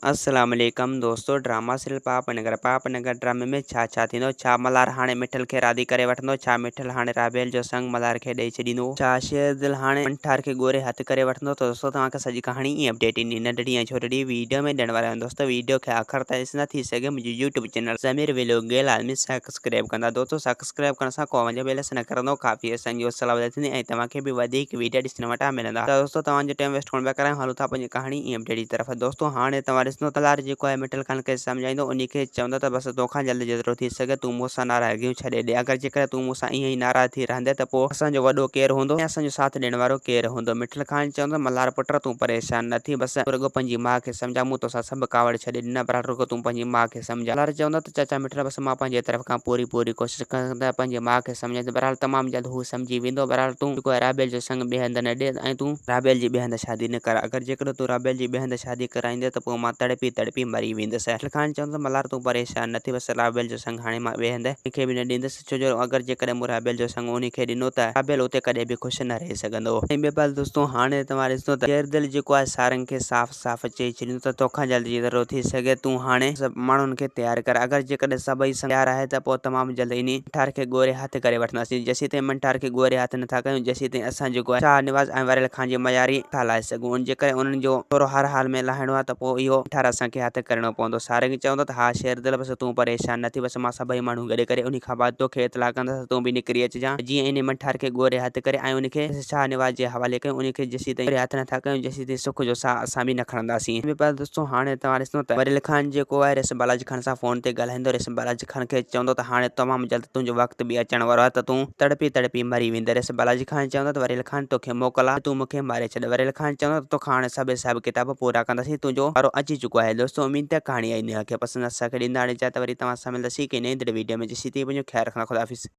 السلام عليڪم دوستو ڊراما سيريل پاپ نگر پاپ نگر ڊرامي ۾ ڇا ڇا ٿيندو ڇا ملهار هاڻي مٺل کي راضي ڪري وٺندو ڇا مٺل هاڻي رابيل جو سڱ ملهار کي ڏئي ڇڏيندو ڇا شير دل هاڻي منٺار کي ڳوري هٿ ڪري وٺندو ته دوستو توهان کي سڄي ڪهاڻي ۽ اپڊيٽ انهي ننڍڙي ۽ ڇوٽڙي ويڊيو ۾ ڏيڻ وارو آهيان دوستو ويڊيو کي آخر تائين ڏسندا ٿي سگهي منهنجي يوٽيوب چينل ضمير ولوگ گيل عالمي سڪسڪريب ڪندا دوستو سڪسڪريب سبسڪرائب ڪرڻ سان قوم جو بيلنس نه ڪرندو ڪافي حصن جي اصلاح وڌي ٿيندي ۽ توهان کي به وڌيڪ ويڊيا ڏسڻ وٽان ملندا ته دوستو توهان جو ٽيم ويسٽ ڪونه پيا ڪرايون هلون ٿا پنهنجي ڪهاڻي ايم ڊي ڊي طرف دوستو هاڻي توهان ڏسندو ته لار جيڪو آهي مٽل خان کي سمجهائيندو انهي کي چوندو ته بس تو کان جلد جيترو ٿي سگهي تون مون سان ناراضگيون ڇڏي ڏي اگر جيڪڏهن تون مون سان ائين ئي ناراض ٿي رهندين ته پوء اسان جو وڏو ڪير هوندو ۽ اسان جو ساٿ ڏيڻ وارو ڪير هوندو مٽل خان چوندو ملهار پٽ تون پريشان نه ٿي بس تون رڳو پنهنجي ماء کي سمجهاء مون توسان سڀ ڪاوڙ ڇڏي ڏنا بهرحال رڳو تون پنهنجي ماء کي سمجهاء. لالچ چوندو ته چاچا مٺڙا بس مان پنهنجي طرف کان پوري پوري ڪوشش ڪندس ته پنهنجي ماء کي سمجهائينس بهرحال تمام جلد هو سمجهي ويندو بهرحال تون جيڪو آهي رابيل جو سڱ ٻئي هنڌ نه ڏي ۽ تون رابيل جي ٻئي هنڌ شادي نه ڪراء اگر جيڪڏهن تون رابيل جي ٻئي هنڌ شادي ڪرائيندينء ته پوء مان تڙپي تڙپي مري ويندس. لکڻهاڻي چوندو ته ملهار تون پريشان نه ٿي بس رابيل جو سڱ هاڻي مان ٻئي هنڌ ڪنهن کي به نه ڏيندس ڇو جو اگر جيڪڏهن مون رابيل جو سڱ انهي کي ڏنو ته رابيل اتي ڪڏهن به خوش نه رهي سگهندو. ۽ بهرحال دوستو هاڻي توهان ڏسندو ته غير دل جيڪو آهي سارنگ کي صاف. صاف چئي ڇڏيون ته توکان جلد جيترو ٿي سگهي تون هاڻي سڀ ماڻهن کي تيار ڪر. اگر جيڪڏهن سڀئي سنگ تيار آهي ته پوء تمام جلد انهي منٺار کي ڳوري هٿ ڪري وٺنداسين. جيسيتائين منٺار کي ڳوري هٿ نه ٿا ڪيون جيسيتائين اسان جيڪو آهي شاهه نواز ۽ وريل خان جي مياري نه ٿا لاهي سگهون. ان جيڪڏهن انهن جو ٿورو هر حال ۾ لاهڻو آهي ته پوء اهو منٺار اسان کي هٿ ڪرڻو پوندو. سارنگ چوندو ته ها شيردل بس تون پريشان نه ٿي بس مان سڀئي ماڻهو گڏ ڪري انهي کان بعد توکي اطلاع ڪندس ته تون به نڪري اچجان ته جيئن انهي منٺار کي ڳوري هٿ ڪري ۽ انهي کي شاهه نواز جي حوالي ڪيون. انهي کي جيسيتائين ڳوري هٿ نه ٿا ڪيون جتي سک جو ساهه اسان به نه کڻنداسين. مير پيار دوستو هاڻي توهان ڏسندو ته ورلي خان جيڪو آهي ريشم بالاجي خان سان فون تي ڳالهائيندو ريشم بالاجي خان کي چوندو ته هاڻي تمام جلد تنهنجو وقت به اچڻ وارو آهي ته تون تڙپي تڙپي مري ويندين ريشم بالاجي خان چوندو ته ورلي خان توکي موڪل آهي ته تون مونکي ماري ڇڏ ورلي خان چوندو ته توکان هاڻي سڀ حساب ڪتاب پورا ڪنداسين تنهنجو وارو اچي چڪو آهي دوستو اميد ته ڪهاڻي آئي نيو کي پسند اسان کي ڏيندا هاڻي جا ته وري توهان سان ملنداسين هڪ نئين دڙي ويڊيو ۾ جيسين تائين پنهنجو خيال رکندا خدا حافظ.